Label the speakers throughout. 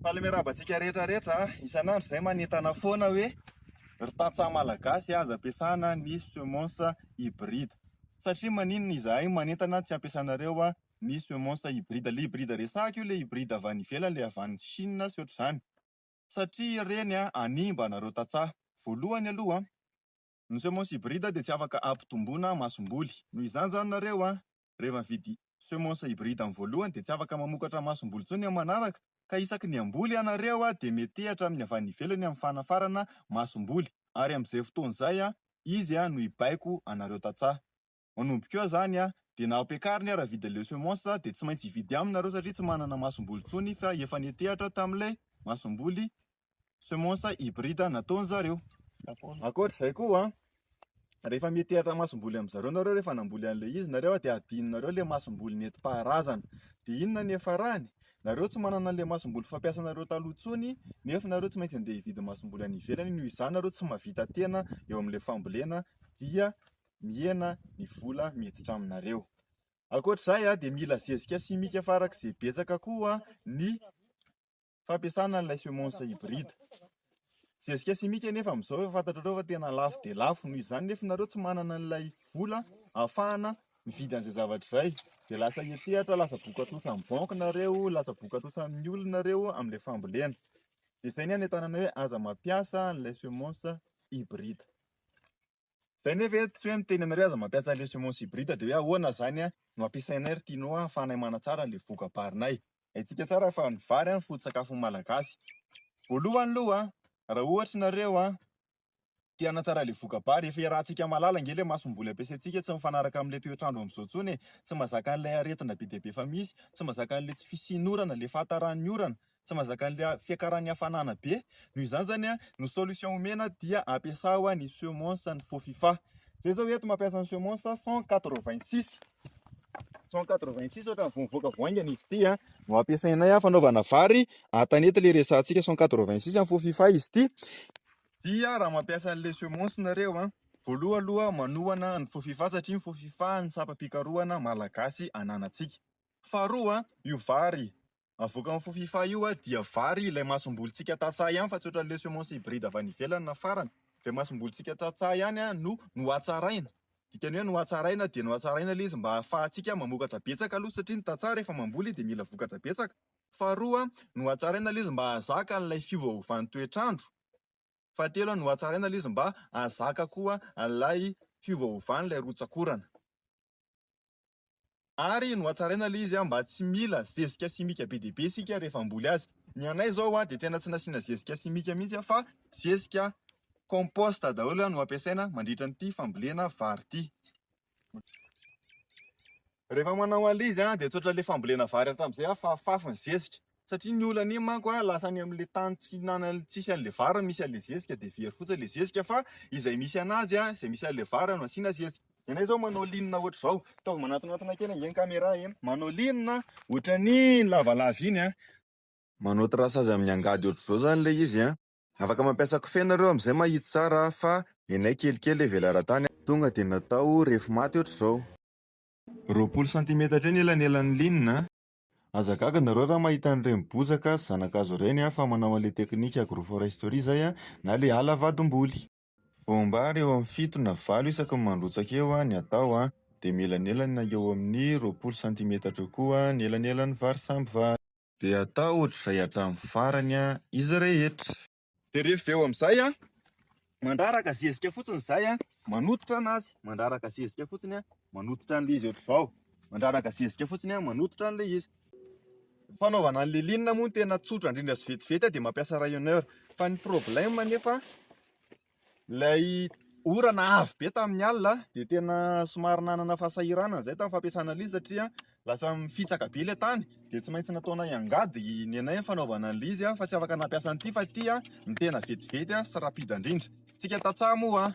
Speaker 1: Faly miarahaba antsika rehetra rehetra a! Isan'andro izahay manentana foana hoe ry tantsaha malagasy aza ampiasana ny semences hybrides. Satria maninona izahay manentana tsy ampiasanareo ny semences hybrides? Ilay hybride resahiko io ilay hybride avy any ivelany, ilay avy any Chine sy ohatr'izany. Satria ireny hanimba anareo tantsaha. Voalohany aloha, Ny semences hybrides dia tsy afaka hampitomboana masomboly. Noho izany izany nareo an, rehefa mividy semences hybrides amin'ny voalohany dia tsy afaka mamokatra masomboly intsony amin'ny manaraka, ka isaky ny hamboly ianareo an dia metehatra amin'ny avy any ivelany amin'ny fanafarana masomboly, ary amin'izay fotoana izay an, izy an no hibaiko anareo tantsaha. Manomboka eo zany a, de na ampiakariny ara vide le semence a, de tsy maintsy hividy aminy nareo satria tsy manana masomboly tsony fa efa netehatra tamle masomboly semence hybride nataony zareo. Ankoatra zay koa a, rehefa metehatra masomboly am zareo nareo rehefa namboly anle izy nareo a, de adino nareo le masomboly nety paharazana, de inona ny hiafarany? Nareo tsy manana anle masomboly fampiasa nareo taloha tsony nef nareo tsy maintsy ande hividy masomboly any ivelany, noho izany nareo tsy mahavita tena eo amle fambolena dia mihena ny vola miditra aminareo. Ankoatr'izay dia mila zezika simika farak'izay betsaka koa ny fampiasana an'ilay semences hybrides. Zezika simika anefa amin'izao efa fantatrareo fa tena lafo dia lafo, noho izany nefa ianareo tsy manana an'ilay vola ahafahana mividy an'izay zavatra izay dia lasa hiantehatra, lasa vokatrosan'ny banky nareo, lasa vokatrosan'ny olona nareo amin'ilay fambolena. Dia izay ny anentanana hoe aza mampiasa an'ilay semences hybrides. Zay nefa eto tsy hoe miteny anareo aza mampiasa le semences hybrides de hoe ahoana zany a no ampiasainay ry tianao ahafahanay manatsara le vokabarinay. Haintsika tsara fa ny vary a foto-tsakafon'ny malagasy. Voalohany loha a raha ohatra nareo a te hanatsara le vokabary efa iarahantsika mahalala ange le masomboly ampiasaintsika tsy mifanaraka amle toetrandro amzao tsony e, tsy mazaka anle aretina be dia be efa misy, tsy mazaka anle tsy fisian'orana, le fahatarany orana, tsy mazaka an'ilay fiakaran'ny hafanana be, noho izany izany an, ny solution omena dia ampiasao ny semonsa ny faux fifa, zay zao eto mampiasa ny semonsa cent quatre vingt six, cent quatre vingt six ohatrany vao mivoaka vao haingana izy ity an, no ampiasainay fanaovana vary an tanety ilay resahantsika cent quatre vingt six faux fifa izy ity, dia raha mampiasa an'ilay semonsa nareo an, voaloha aloha manohana ny faux fifa satria ny faux fifa no sampam-pikarohana malagasy ananantsika, faharoa io vary Avoakan'ny fofifa io a dia vary ilay masombolontsika tantsaha ihany fa tsy ohatran'ny le semence hybride avy any ivelany na farany. Dia masombolontsika tantsaha ihany a no nohatsaraina. Dikany hoe nohatsaraina dia nohatsaraina ilay izy mba hahafahantsika mamokatra betsaka aloha satria ny tantsaha rehefa mamboly dia mila vokatra betsaka. Faharoa a, nohatsaraina ilay izy mba hahazaka an'ilay fiovaovan'ny toetr'andro. Fahatelo a, nohatsaraina ilay izy mba hahazaka koa an'ilay fiovaovan'ilay rotsakorana. Ary nohatsaraina ilay izy mba tsy mila zezika simika be dia be isika rehefa hamboly azy. Ny anay izao dia tena tsy nasiana zezika simika mihitsy fa zezika compost daholo no ampiasaina mandritra an'ity fambolena vary ity. Rehefa manao an'ilay izy dia tsotra ilay fambolena vary hatramin'izay fa fafy ny zezika. satria ny olana iny manko a lasa any amin'ilay tany tsy hinana tsisy an'ilay vary misy an'ilay zezika dia very fotsiny ilay zezika fa izay misy anazy a izay misy an'ilay vary no asiana zezika ianay izao manao linina ohatr'izao ataovy manatonatona kely ange ny caméra e manao linina ohatran'ny lavalava iny a manao traçage amin'ny angady ohatr'izao izany ilay izy a afaka mampiasa kofehy ianareo amin'izay mba hahitsy tsara fa ny anay kelikely e velaran-tany a tonga dia natao refy maty ohatr'izao. Roapolo santimetatra eo ny elanelan'ny linina a. Aza gaga nareo raha mahita an'ireny bozaka zanakazo ireny a fa manao an'ilay teknika agroforesterie zay a na ilay ala vadim-boly. Voam-bary eo amin'ny fito na valo isaky ny mandrotsaka eo ny atao a, dia mielanelany na eo amin'ny roapolo santimetatra eo koa ny elanelan'ny vary samby vary. Dia atao ohatr'izay hatramin'ny farany a izy rehetra. Dia rehefa avy eo amin'izay an, mandraraka zezika fotsiny izay an, manototra an'azy, mandraraka zezika fotsiny an, manototra an'ilay izy ohatr'izao, mandraraka zezika fotsiny an, manototra an'ilay izy. Ny fanaovana an'ilay ligne moa no tena tsotra indrindra sy vetivety dia mampiasa rayonneur. Fa ny problème anefa Ilay orana avy be tamin'ny alina dia tena somary nanana fahasahiranana izay tamin'ny fampiasana an'ilay izy satria lasa mifitsaka be ilay tany dia tsy maintsy nataonay angady ny anay ny fanaovana an'ilay izy fa tsy afaka nampiasa an'ity fa ity no tena vetivety sy rapide indrindra. Isika tantsaha moa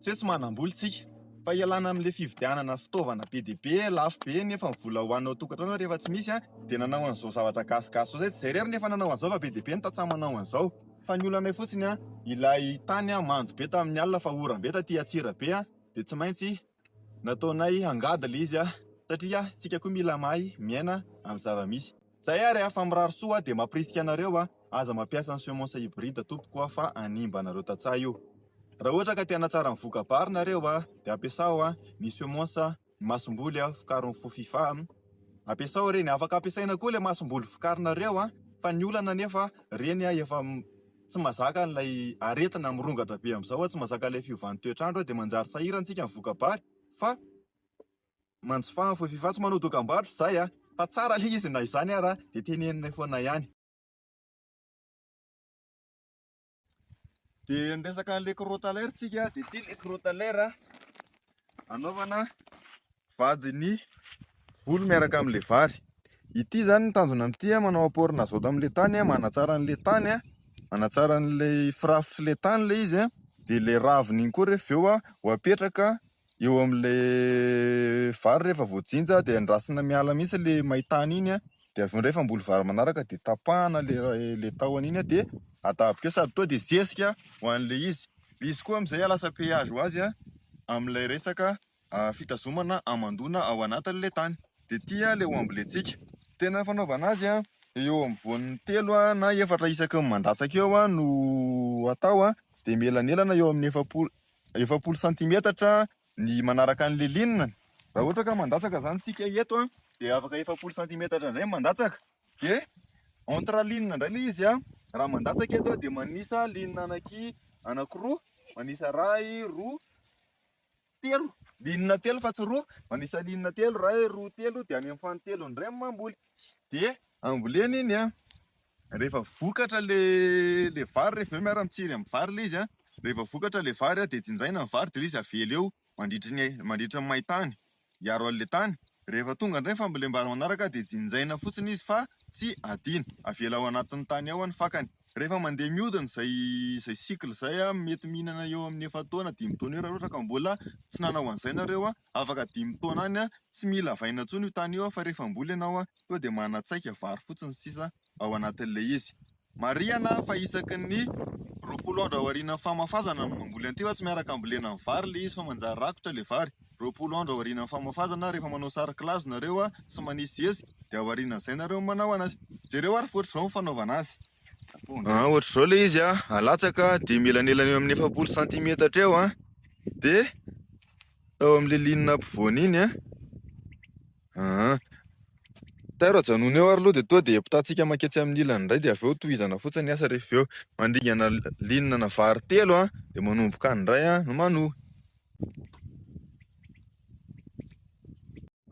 Speaker 1: tsy hoe tsy manam-bola isika fa ialana amin'ilay fividianana fitaovana be dia be lafo be nefa ny vola ho anao an-tokantrano rehefa tsy misy dia nanao an'izao zavatra gasigasy izao, izay tsy izay irery no efa nanao an'izao fa be dia be ny tantsaha manao an'izao. Fa ny olanay fotsiny an, ilay tany an mando be tamin'ny alina fa oram be taty Antsirabe an, dia tsy maintsy nataonay hangady ilay izy an, satria tsika koa mila mahay miaina amin'ny zava misy. Zay ary an, fa mirary soa aho dia mampirisika anareo an, aza mampiasa ny semences hybrides tompoko an, fa hanimba anareo tantsaha io. Raha ohatra ka te hanatsara ny voka-bary nareo an, dia ampiasao an ny semences. Masomboly a, vokarin'ny fo fifa a. Ampiasao reny, afaka ampiasaina koa ilay masomboly vokarinareo a, fa ny olana anefa reny a efa tsy mazaka an'ilay aretina mirongatra be amin'izao a, tsy mazaka an'ilay fiovan'ny toetr'andro a, dia manjary sahirantsika ny voka-bary fa manjifa ny fo fifa, tsy manao dokam-barotra izahay a, fa tsara ilay izy na izany ara dia teneninay foana ihany. Dia ny resaka an'ilay crotalaire tsika dia ity ilay crotalaire anaovana vadin'ny volo miaraka amin'ilay vary. Ity izany ny tanjona amin'ity a, manao apport n'azote amin'ilay tany a, manatsara an'ilay tany a, manatsara an'ilay firafitr'ilay tany ilay izy a, dia ilay raviny iny koa rehefa avy eo a ho apetraka Eo amin'ilay vary rehefa voajinja dia andrasana miala mihitsy ilay may tany iny an, dia avy eo indray efa hamboly vary manaraka dia tapahana ilay tahony iny an dia atapy kely, sady tonga dia zezika ho an'ilay izy. Ilay izy koa amin'izay lasa péage ho azy an, amin'ilay resaka fitazomana hamandoana ao anatin'ilay tany. Dia ity ilay ho ambolentsika. Tena fanaovana azy an, eo amin'ny voany telo na efatra isaky ny mandatsaka eo no atao an, dia mielanelana eo amin'ny efapolo, efapolo santimetatra ny manaraka ny liline, raha ohatra ka mandatsaka izany isika eto dia afaka efapolo santimetatra indray ny mandatsaka dia entre ligne indray ilay izy an, raha mandatsaka eto aho dia manisa ligne anaky anakiroa, manisa iray, roa, telo, ligne telo fa tsy roa, manisa ligne telo, iray, roa, telo dia any amin'ny fanintelony indray ny mamboly dia ambolena iny an! Rehefa vokatra le le vary rehefa avy eo miara mitsiry amin'ny vary le izy a, rehefa vokatra le vary a de jinjaina ny vary de le izy avela eo mandritry ny mandritry ny main-tany hiaro an'le tany, rehefa tonga indray ny fambolem-bary manaraka de jinjaina fotsiny izy fa tsy adino, avela ao anatin'ny tany ao ny fakany. Rehefa mandeha mihodina izay izay cycle izay a, mety mihinana eo amin'ny efa-taona dimy taona eo raha ka mbola tsy nanao an'izay nareo a, afaka dimy taona any a, tsy mila avaina intsony io tany io a fa rehefa hamboly ianao a, tonga dia manatsaika vary fotsiny sisa ao anatin'ilay izy. Marihana fa isaky ny roapolo andro aorianan'ny famafazana no mamboly an'ity fa tsy miaraka ambolena ny vary ilay izy fa manjary rakotra ilay vary. Roapolo andro aorianan'ny famafazana, rehefa manao sary kilazy nareo sy manisy hezy dia aorianan'izay nareo manao anazy. Jereo ary fa ohatr'izao ny fanaovana azy. Ohatr'izao ilay izy, alatsaka dia mielanelan'eo amin'ny efapolo santimetatra eo dia tao amin'ilay linina ampovoany iny. Aa! Tairo ajanony eo ary aloha dia toa dia ampitantsika manketsy amin'ny ilany indray dia avy eo tohizana fotsiny ny asa rehefa avy eo. Mandingana ligne ana vary telo an! dia manomboka any indray an! no manohy.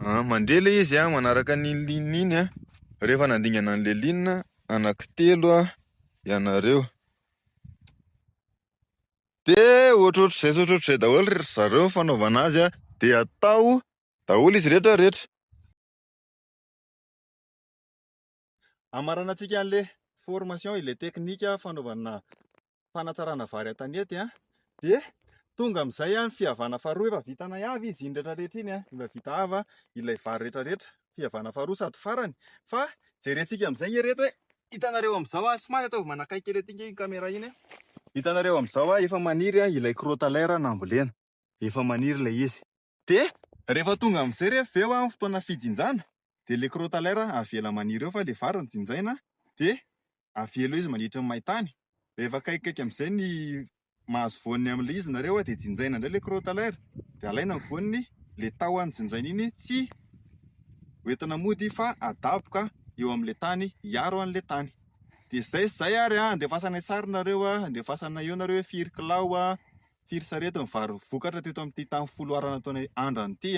Speaker 1: Aa! Mandeha ilay izy an! manaraka an'iny ligne iny an! rehefa nandingana an'ilay ligne anankitelo an! ianareo. Dia ohatrohatr'izay sy ohatrohatr'izay daholo ry zareo ny fanaovana azy an! dia atao Daholo izy rehetra rehetra. Hamaranantsika an'le formation ilay teknika fanaovana fanatsarana vary an-tanety an, dia tonga amin'izay an, fihavana faharoa efa vitanay avy izy iny rehetra rehetra iny an, efa vita ava ilay vary rehetra rehetra, fihavana faharoa sady farany, fa jerentsika amin'izay nge rehetra hoe hitanareo amin'izao an, somary ataovy manakaiky kely aty nge iny camera iny an, hitanareo amin'izao an, efa maniry ilay crotaleur nambolena, efa maniry ilay izy, Dia rehefa tonga amin'izay re avy eo an ny fotoana fijinjana dia ilay crotalaire avela maniry eo fa ilay vary no jinjaina dia avela eo izy mandritry ny main-tany. Rehefa akaikikaiky amin'izay ny mahazo voany amin'ilay izy nareo dia jinjaina indray ilay crotalaire dia alaina ny voany, ilay tahony jinjaina iny tsy ho entina mody fa adaboka eo amin'ilay tany hiaro an'ilay tany. Dia izay sy izay ary an, andefasana ny sary nareo an, andefasana eo nareo hoe firy kilao an, firy sarety ny vary vokatra teto amin'ity tany folo arana ataonay andrana ity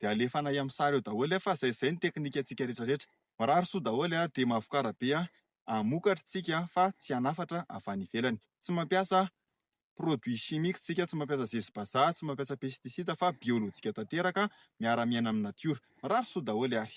Speaker 1: dia alefanay amin'ny sary eo daholo fa izay izay ny teknikantsika rehetra rehetra. Mirary soa daholo dia mavokara be hamokatra isika fa tsy hanafatra avy any ivelany. Tsy mampiasa produit chimique isika, tsy mampiasa zezi-bazaha, tsy mampiasa pesticide fa biolojika tanteraka miara-miaina amin'ny natiora. Mirary soa daholo ary.